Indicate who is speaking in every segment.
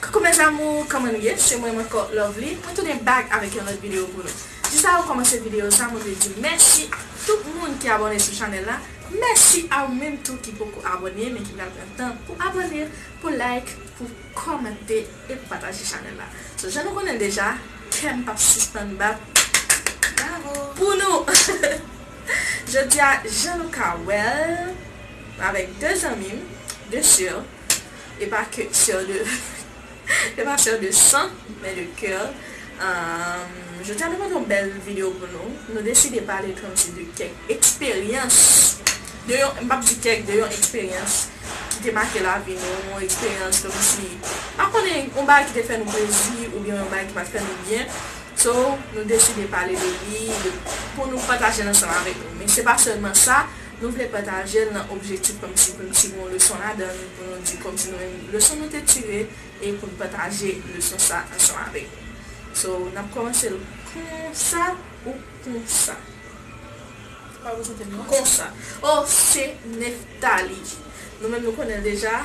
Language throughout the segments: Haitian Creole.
Speaker 1: Coucou mes amours kòman nou ye se mwen m ankò Lovely mwen tounen back avèk yon lòt video pou nou jis avan m kòmanse video sa mwen vle di mèsi ak tout moun ki abòne sou chanèl la mèsi a ou menm tou ki poko abòne men ki pral pran tan pou abòne pou like pou kòmante e pou pataje chanèl la so jan nou konnen l deja kè m pap sispann bat bravo pou nou. Jodi a, jan nou ka wè l, m avèk 2 zanmi m, 2 sè, e pa kè, sè de, e pa sè de san, men de kè. Jodi a nou pote yon bèl videyo pou nou. Nou deside pale kòmsi de kèk eksperyans, de yon, m p ap di kèk, de yon eksperyans ki te make lavi nou, yon eksperyans kòmsi, m pa konnen, yon bagay ki te fè nou plezi oubyen yon bagay ki pa t fè nou byen. So, nou deside pale de li, de pou nou pataje l ansanm avèk nou. Men se pa sèlman sa, nou vle pataje l nan objektif kòmsi pou n tire yon leson ladan l, pou nou di kòmsi nou menm leson nou te tire e pou n pataje leson sa ansanm avèk nou. So, n ap kòmanse l konsa ou konsa? Konsa. Oh, se Nephtalie. Nou menm nou konnen l deja.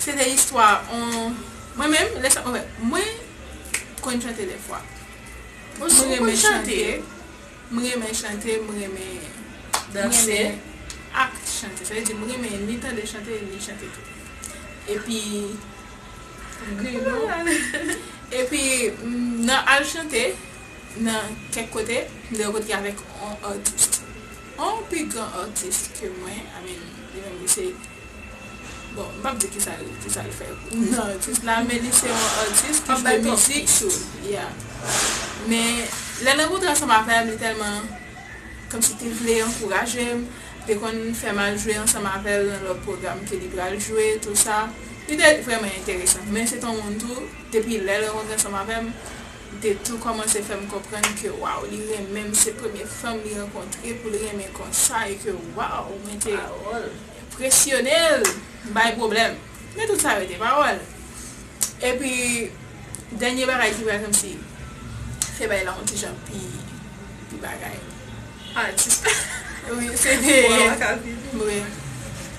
Speaker 2: Se te istwa on Mwen menm lè sa anfen mwen t konn chante dè fwa. Ou t konn chante? M renmen chante, m renmen danse ak chante. Sa vle di m renmen ni tande chante ni chante tou. Epi m gen yon Epi m nan al chante nan kèk kote m de kote avèk on atis. On pi gran artiste ke mwen I mean li menm li se bon m pap di kisa l kisa l fè nan artiste la men li se on artiste ki jwe mizik chou yeah men lè l rankontre ansanm avè m li tèlman kòmsi te vle ankouraje m te konn fè m al jwe ansanm avè l nan lòt pwogram ke li pral jwe tou sa li te vrèman enteresan men se t on moun tou depi lè l rankontre ansanm avè m Li te tou kòmanse fè m konprann ke waw li renmen m se premye fanm li rankontre pou l renmen konsa e ke waw mwen te enpresyone l m bay pwoblèm men tout sa rete pawòl epi dènye bagay ki pral kmnse fè bagay la yon ti jan pi pi bagay atis
Speaker 1: la wi
Speaker 2: se te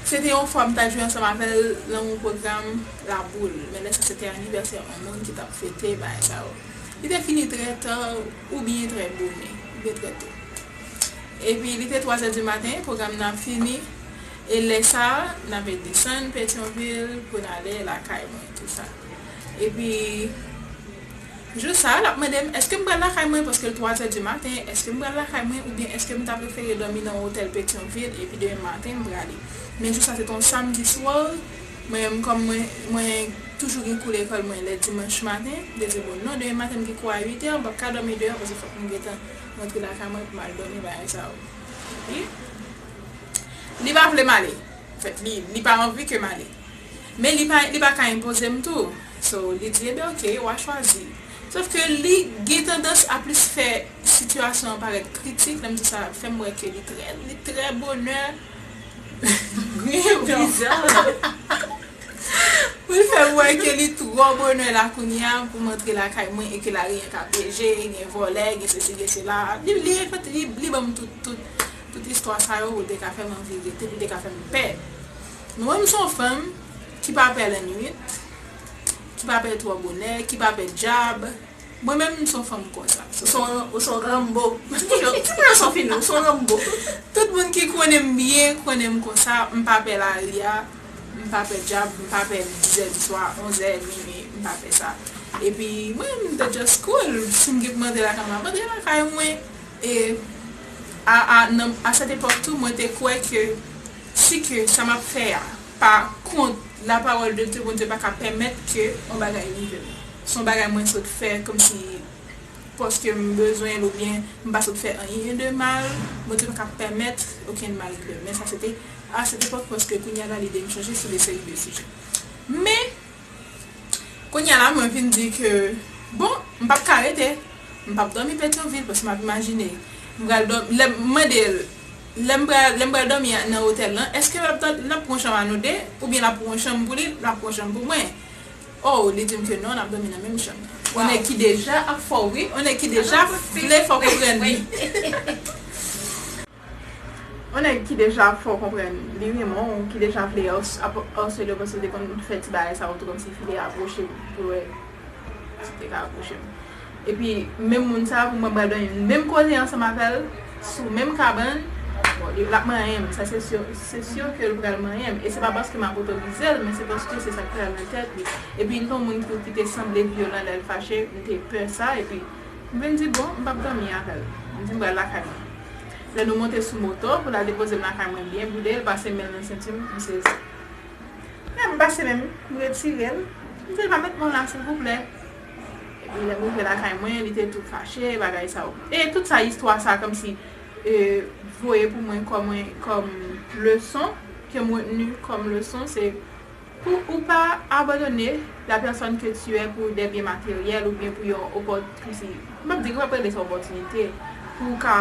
Speaker 2: se te yon fwa m ta jwe ansanm avè l nan yon pwogram. Raboul, men lè sa se te anivèsè yon moun ki t ap fete bagay sa yo. Li te fini trè ta oubyen trè bone, oubyen trè to. Epi li te twazè di maten, pwogram nan ap fini, e lè sa a, n ape desann Petyonvil pou n ale lakay mwen, tout sa. Epi, jou sa a, l ap mande m, èske m pral lakay mwen, paske l twazè di maten, èske m pral lakay mwen, oubyen èske m ta prefere dòmi nan yon otèl Petyonvil, epi demen maten m prale. Men jou sa se te yon samdi swa. Mwen menm kòm mwen mwen toujou gen kou lekòl mwen lè dimanch maten, m te di bon non demen maten m gen kou a 8 è m pap ka dòmi deyò paske fòk m gentan rantre lakay mwen pou m al dòmi bagay sa yo. Epi li pa vle m ale anfèt li li pa anvi ke m ale men li pa li pa ka enpoze m tou so li di eben ok w a chwazi sof ke li gen tandans a plis fè sitiyasyon an parèt kritik lè m di sa l ap fè m wè ke li trè li trè bonè Griyen
Speaker 1: prizon an
Speaker 2: poul fèm wè ke li trò bonè la kounya poum antre lakay mwen e ke la ri an ka pyeje gen vòlè gen sesi gen sela li banm tout istwa sa yo pou l te ka fèm anvi rete pou l te ka fèm pè men mwen m son fanm ki pa pè lannuit ki pa pè trò bonè ki pa pè djab. Mwen menm m son fanm konsa. Ou son ou son Rambo.
Speaker 1: Ti moun yo ti moun yo son fini ou son Rambo. Tout moun ki
Speaker 2: konnenm byen konnenm konsa m pa pè lari a m pa pè djab m pa pè dizè diswa onzè minuit m pa pè sa epi mwen menm m te just cool sim gen pou m antre lakay mwen ap antre lakay mwen e a a nan a cette époque tou mwen te kwè ke si ke sa map fè a pa kont la parole de Dieu Bondye paka pèmèt ke yon bagay rivem. Son bagay mwen sot fè kòmsi paske m bezwen l oubyen m pa sot fè anyen de mal Bondye pa ka pèmèt okenn mal rive m men sa se te a set epòk paske kounya la lide m chanje sou de seri de sijè men kounya la mwen vin di ke bon m pap ka rete m pap dòmi Petyonvil paske m ap imajine m pral dò lè m mande l lè m pral lè m pral dòmi nan otèl lan èske l ap pran chanm a nou de oubyen l ap pran yon chanm pou li l ap pran yon chanm pou mwen Oh li dim ke non nap domi nan menm chanm. Yon nèg ki deja ap fò wi yon nèg ki deja vle fò konprann li. Yon nèg ki deja ap fò konprann li renmen w ki deja vle ap arsele w paske li te konn fè ti bagay sa yo tou kòmsi fi te apwoche m pou l wè si te ka apwoche m. Epi menm moun sa pou mwen pral dòmi menm kote ansanm avèl sou menm kabann bon li lap manyenm sa se sur se sur kel pral manyenm e se pa paske map otorizel men se paske se sak pral nan tèt li epi li ton moun tou kite sanble vyolan lèl fache mte pè sa epi mvin di bon mpap dòmi avèl mdi mpral lakay mwen lè nou monte sou moto pou lal depozem lakay mwen byen boude li pase menl nan sentum m sezi lèm pase menm mretirel mdil pa met men w la silvouplè. Epi lèm rive lakay mwen li te tou fache bagay sa yo. E tout sa istwa sa komsi voye pou mwen kom leson kem retenu kom leson se pou ou pa abandone la personne que tu es pou des biens materiels oubyen pou yon komsi map di map rele sa opportunite pou ou ka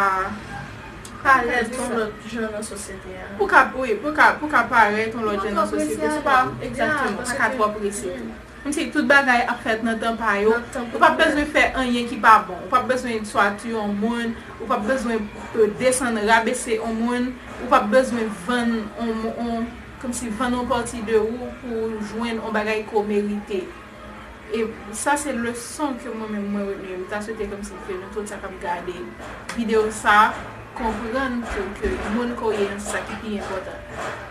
Speaker 1: parèt yon lot jan nan sosyete a. Pou ka wi
Speaker 2: pou ka parèt yon lot jan nan sosyete se pa exactement se pa tro prese tou. Mnti tout bagay ap fèt nan tan pa yo, ou pap bezwen fè anyen ki pa bon, ou pap bezwen tuatire on moun, ou pap bezwen desann rabese on moun, ou pap bezwen vann on on kmnsi vann on pati de ou pou ou jwenn on bagay ke w merite e sa se leson ke mwen menm mwen retni m ta swete kmnsi ke nou tout sa kap gade video sa konprann tou ke moun ke w ye an se sa ki pi enpòtan.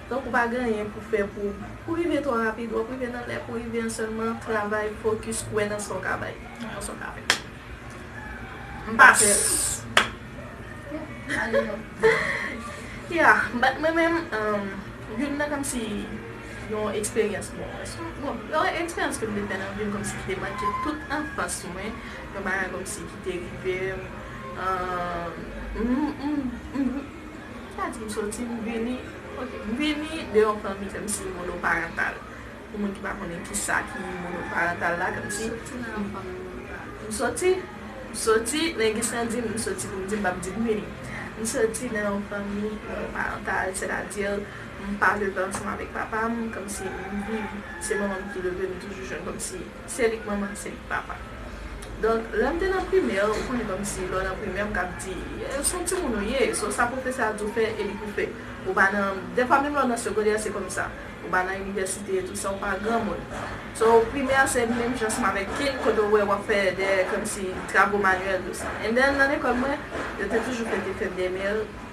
Speaker 1: Tank ou pa gen anyen pou fè pou pou rive twò rapid wap rive nan lè pou rive an sèlman travay fokis kwè nan sa w ka bay nan sa w ka fè m pa fè yeah bat mwen menm youn nan kòmsi yon eksperyans bon yon eksperyans ke m te fè nan vi m kòmsi ki te make tout anfans mwen yon bagay kòmsi ki te rive m m. Pa di m soti, m vini. Ok, m vini de yon fanmi kòmsi monoparantal. Pou moun ki pa konnen ki sa ki monoparantal la, kòmsi. M soti nan yon fanmi monoparantal. M soti, m soti, men gen sa m di m, m soti pou m di m pa p di m vini. M soti nan yon fanmi monoparantal, sètadi m pa leve ansanm avèk papa m, kòmsi m viv, se manman m ki leve m, m toujou jwenn kòmsi. Se li k manman, se li k papa. Donk, lè m te nan primè, ou konnen kòmsi lè w nan primè m kab di, s on timoun ou ye, so sa pwofesè a di w fè e li pou fè. Ou pa nan, dèfwa menm lè w nan segondè se kòmsa. Ou pa nan inivèsite e tou sa, ou pa granmoun. So, primè a se menm jan seman avèk kin kote w wè w ap fè dè kòmsi travo manyèl tou sa. And then nan lekòl mwen, yo te toujou fè te fè dèmèl.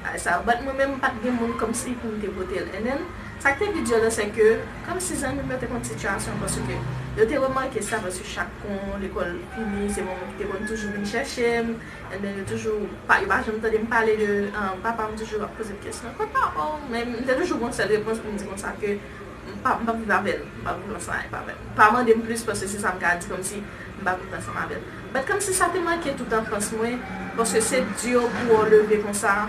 Speaker 1: Ay sa bat mwen menm pat gen moun komsi poum te potel NN, sak te pi dur lan se ke komsi zanmim yo te konn sitiyasyon paske yo te remake sa paske chak kon lekol fini se manmanm ki te konn toujou vin chèchem NN yo toujou pa yo pa janm tandem pale de papam toujou ap pozem kesyon kot papaw men m te toujou gon sèl repons poum di konsa ke m pa m pap viv avèl m pa viv ansanm avèl pa mandem plis paske se sam ka di komsi m pa viv ansanm avèl. Bat kòm si sa te manke tout anfans mwen paske se di o pou o leve konsa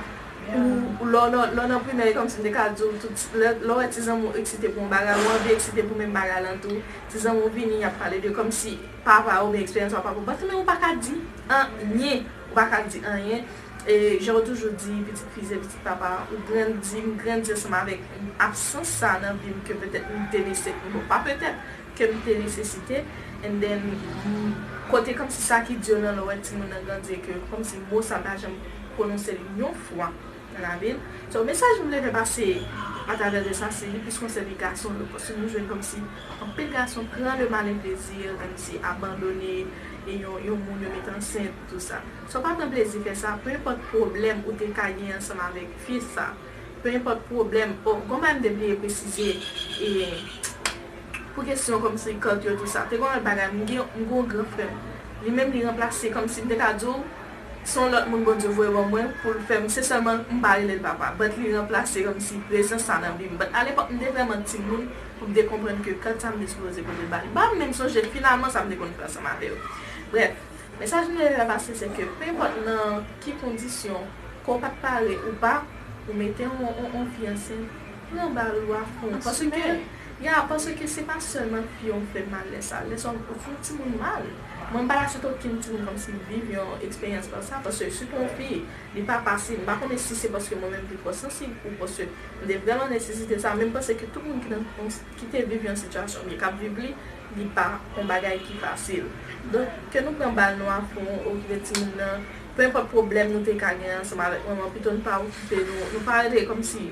Speaker 1: ou lè w nan primè e kòm si m te ka di w tout lè w wè ti zanmi w eksite pou yon bagay ou anvi eksite pou menm bagay lan tou ti zanmi w vini y ap pale de kòm si papa oubyen eksperyans papa pou bat men ou pa ka di anyen ou pa ka di anyen e jan yo toujou di pitit fi se pitit papa ou grandi m grandi ansanm avèk absans sa nan vi m ke petèt m te lese pou nou pa petèt ke m te nesesite and then m kote komsi sa ki di yo nan lorèt timoun nan grandi e ke komsi mo sa pa janm pwononse l yon fwa nan lavi l so mesaj m vle fè pase a travè de sa se li plis konsène gason yo paske nou jwenn komsi anpil gason pran le malin plaisir komsi abandone e yon yon moun yo met ansent tou sa so pa pran plezi fè sa peu enpòt pwoblèm ou te ka gen ansanm avèk fi sa peu enpòt pwoblèm oh gon bagay m te bliye presize e. Pou kesyon kòmsi kòk yo tou sa, te gon lòt bagay, m gen m gen yon gran frè m, li menm li ranplase kòmsi m te ka di w se yon lòt moun Bondye voye ban mwen pou l fè m, se sèlman m pa rele l papa, but li ranplase kòmsi prezans sa nan vi m, but alepòk m te vrèman timoun pou m te konprann ke kòd sa m te sipoze pote l ba li, m pa menm sonje finalman sa m te konn fè ansanm avè yo. Brèf, mesaj m te vle fè pase se ke penpòt nan ki kondisyon, ke w pa t pare ou pa, ou mete yon fi ansent, Pran bal ou a fon paske ya paske se pa sèlman fi yo fè mal lè sa lè sa ou fon timoun mal mwen pa ta site okenn timoun kòmsi m viv yon eksperyans konsa paske sitou yon fi li pa fasil m pa konnen si se paske mwen menm m pi twò sansib pou paske m te vrèman nesesite sa men m panse ke tout moun ki nan ki te viv yon sitiyasyon oubyen k ap viv li li pa yon bagay ki fasil donk ke nou pran bal nou a fon okipe timoun nan penpòt pwoblèm nou te ka gen ansanm avèk manman pito n pa okipe nou nou pa rete kòmsi.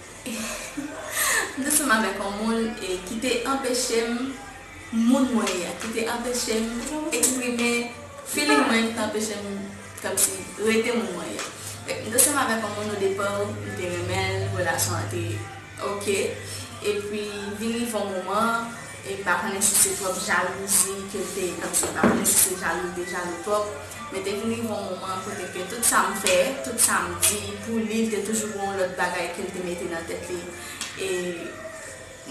Speaker 3: M te sanm avèk yon moun ki te anpeche m moun mwen ye a, ki te anpeche m eksprime feeling mwen, ki te anpeche m kòmsi rete moun mwen ye. Fèk m te sanm avèk yon moun odepa m te renmen l, relasyon an te ok epi vin rive yon moman e m pa konnen si se twòp jalouzi ke l te kòmsi m pa konnen si se jalou l te jalou twòp, Men te vin rive yon moman kote ke tout sa m fè, tout sa m di pou li, l te toujou gen yon lòt bagay ke l te mete nan tèt li. E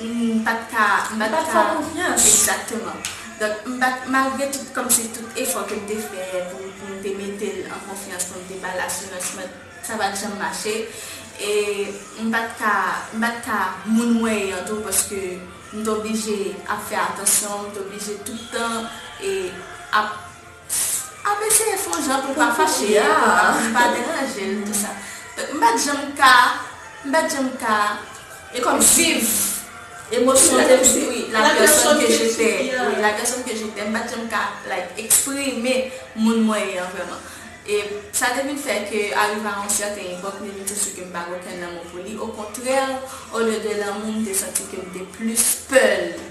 Speaker 3: m pa t ka, m pa t ka. Ou pa t fè l konfyans. Egzakteman. Donk, m pa t, malgre tout, kòmsi tout efò ke m te fè pou m, pou m te mete l an konfyans, pou m te ba l asirans, men sa pa t janm mache. E m pa t ka, m pa t ka moun mwen ye an tou paske m t oblije ap fè atansyon, m t oblije tout tan e ap. Pfff ap eseye fon jan poul pa fache li pa deranjel tout sa donk m pat janm ka m pat janm ka e kòm viv emosyon ke m wi la pèsòn ke jetè wi la pèsòn ke jetè m pat janm ka like eksprime moun mwen ye an vrèman e sa te vin fè ke arive a yon sèten epòk m te vin santi ke m pa gen okenn lanmou pou li okontrè olye de lanmou m te santi ke m te plis pè l.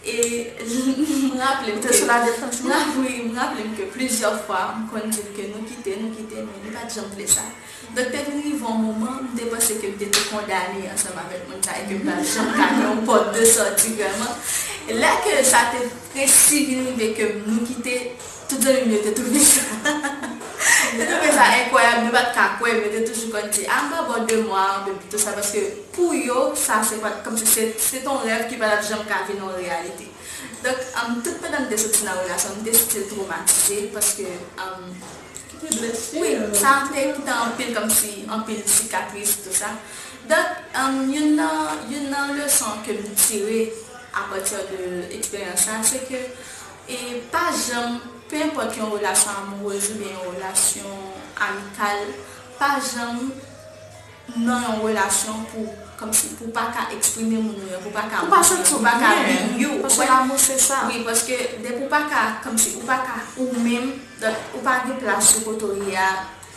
Speaker 3: E m raple m ke. Te sou la defans li? Wi, m raple m ke plizyè fwa m konn di l ke nou kite, nou kite, men li pa t janm vle sa. Donk te vin rive yon moman, m te panse ke m te tou kondane ansanm avèk moun sa e ke m pa t janm ka gen yon pòt de sòti vrèman. Lè ke sa te presi vin rive ke nou kite. Tout zanmi m yo te twouve sa te twouve sa enkwayab, yo pa t ka kwè m, yo te toujou konn di a m pa bò de mwa ank epi tou sa paske pou yo sa se pa t kòmsi se se t on rèv ki pa t ap janm ka vin on reyalite. Donk tout pandan m te soti nan relasyon m te still twomatize paske Ki te blese w? wi sa a te kite anpil kòmsi anpil sikatris tou sa donk youn nan youn nan leson ke m tire apati de eksperyans sa a se ke E pa janm, pe enpòt yon relasyon amoureuse oubyen yon relasyon amikal, pa janm nan yon relasyon pou, kòmsi, pou w pa ka eksprime moun ou ye, pou w pa ka montre, pou w pa ka be you,
Speaker 1: ou konprann? Wi, paske depi
Speaker 3: w pa ka, kòmsi, ou pa ka ou menm, donk ou pa gen plas ou kote w ye a.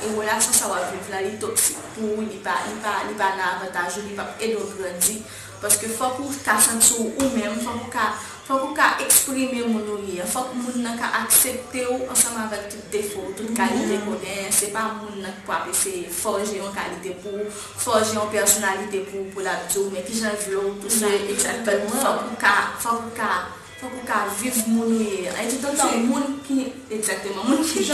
Speaker 3: E relasyon sa wap viv la li toksik pou ou li pa li pa li pa nan avantaj ou li pap ede w grandi paske fòk ou ka santi w ou menm fòk ou ka fòk ou ka eksprime moun ou ye an fòk moun nan ka aksepte w ansanm avèk tout defo w tout kalite konnen se pa moun nan ki pwap eseye fòje yon kalite pou ou fòje yon pèsonalite pou ou pou lap di w men kijan l vle w tou sa egzakteman fòk ou ka fòk ou ka fòk ou ka viv moun ou ye an e toutotan moun ki egzakteman moun ki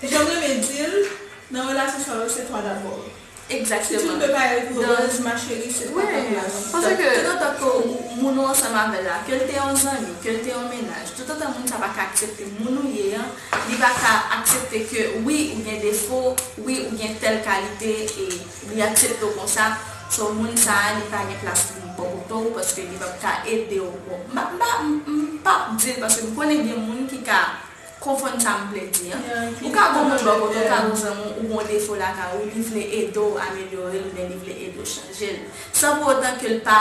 Speaker 3: Janm
Speaker 2: renmen dil nan relasyon sa yo se toi
Speaker 3: d'abord
Speaker 2: si tu ne peux pas être heureuse ma chérie
Speaker 3: c'est pas ta place tout otan ke moun ou ansanm avèl la kel te yon zanmi kel te yon mennaj tout otan moun sa pa ka aksepte moun ou ye an li pa ka aksepte ke wi ou gen defo wi ou gen tèl kalite e li aksepte w konsa so moun sa li pa gen plas pou li bò kote w paske li pap ka ede w bon m pap dil paske m konnen gen moun ki ka. Konfonn sa m vle di an. Ou ka gon moun bò kote w, ka gon zanmi w ou gon defo lakay ou li vle ede w amelyore l oubyen li vle ede w chanje l san pou otan ke l pa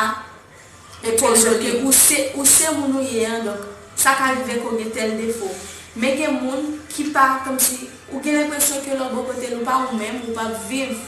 Speaker 3: koz ou ke ou se ou se moun ou ye an donk sa ka rive ke w gen tèl defo men gen moun ki pa kòmsi ou gen lenpresyon ke lè w bò kote l ou pa ou menm ou p ap viv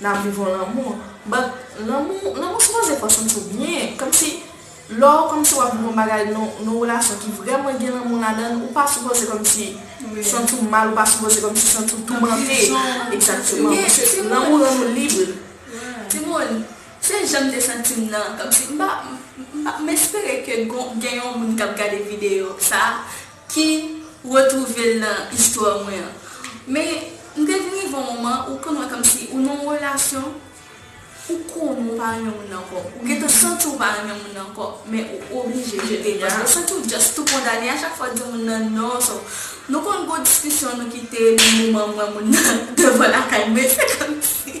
Speaker 1: Nap viv yon lanmou but lanmou lanmou sipoze fè w santi w byen kòmsi lè w kòmsi wap viv yon bagay nan yon relasyon ki vrèman gen lanmou ladann ou pa sipoze kòmsi santi w mal ou pa sipoze kòmsi santi w toumante egzakteman paske lanmou rann ou libre. Timoun
Speaker 3: se janm te santim nan kòmsi m pa m espere ke gen yon moun kap gade video sa. ki retwouve l nan istwa mwen an. Men, m te vin rive yon moman ou konn wè kòmsi ou nan yon relasyon, ou konnen ou pa renmen moun nan ankò, ou gentan santi ou pa renmen moun nan ankò, men ou oblije jete l paske ou santi ou just tou kondane a chak fwa ou di moun nan non. So, nou konn gwo diskisyon nou kite li moman m wè moun nan devan lakay mwen se kòmsi.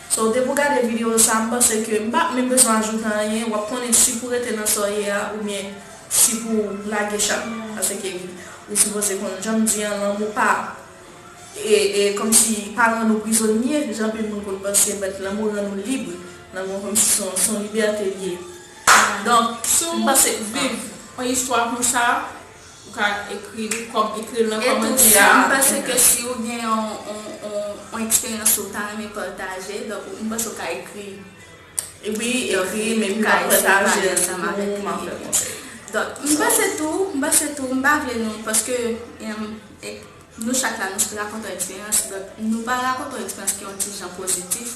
Speaker 1: Sa w te pou gade video sa m panse ke m pa menm bezwen ajoute anyen wap konnen si pou rete nan sa w ye a oubyen si pou w lage chat la paske ou sipoze konn jan m di an lanmou pa e kòmsi pa rann ou prizonye jan anpil moun konn panse but lanmou rann ou lib lanmou an kòmsi se yon libète l ye donk m panse
Speaker 2: viv yon istwa konsa. Ou ka ekri li kòm ekri l nan kòmantè a. E tou sa m panse ke si ou
Speaker 3: gen yon eksperyans ou ta renmen pataje donk m panse ou ka ekri wi ekri li
Speaker 1: m ka eseye pale ansanm avèk li.
Speaker 3: Donk m panse tou m panse tou m pa vle nou paske. Nou chak la, nou se rakontè eksperyans, donk nou pa rakontè eksperyans ki yon ti jan pozitif,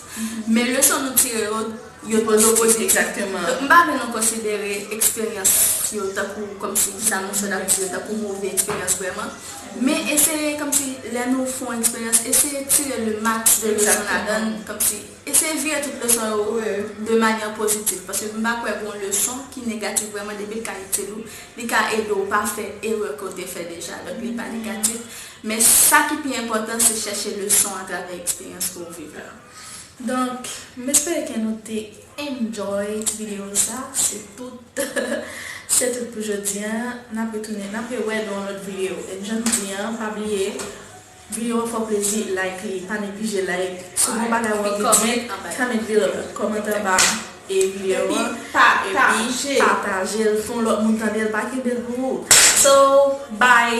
Speaker 3: men leson nou tire yo, yo pozitif. Exactement. Donk m pa
Speaker 1: vle nou
Speaker 3: konsidere eksperyans yo tankou kòmsi sa moun sòt ap di yo tankou move eksperyans vrèman, men eseye kòmsi lè nou fon eksperyans eseye tire le max de leson ladan l, kòmsi. Eseye vire tout leson yo de manyè pozitif paske m pa kwè gon leson ki negatif vrèman depi l ka itil ou li ka ede w pa fè erè ke w te fè deja donk li pa negatif men sa ki pi enpòtan se chèche leson atravè eksperyans ke w viv la donk
Speaker 1: m espere ke nou te enjoy ti video sa se tout se tout pou jodi an n ap retounen n ap re wè nan yon lòt video e m janm di an pa bliye View an fò plezi like li pa neglije like sou bon bagay wap vin di comment below kòmante anba view an epi patajel fon lòt moun tandel pa kenbel pou ou so bye.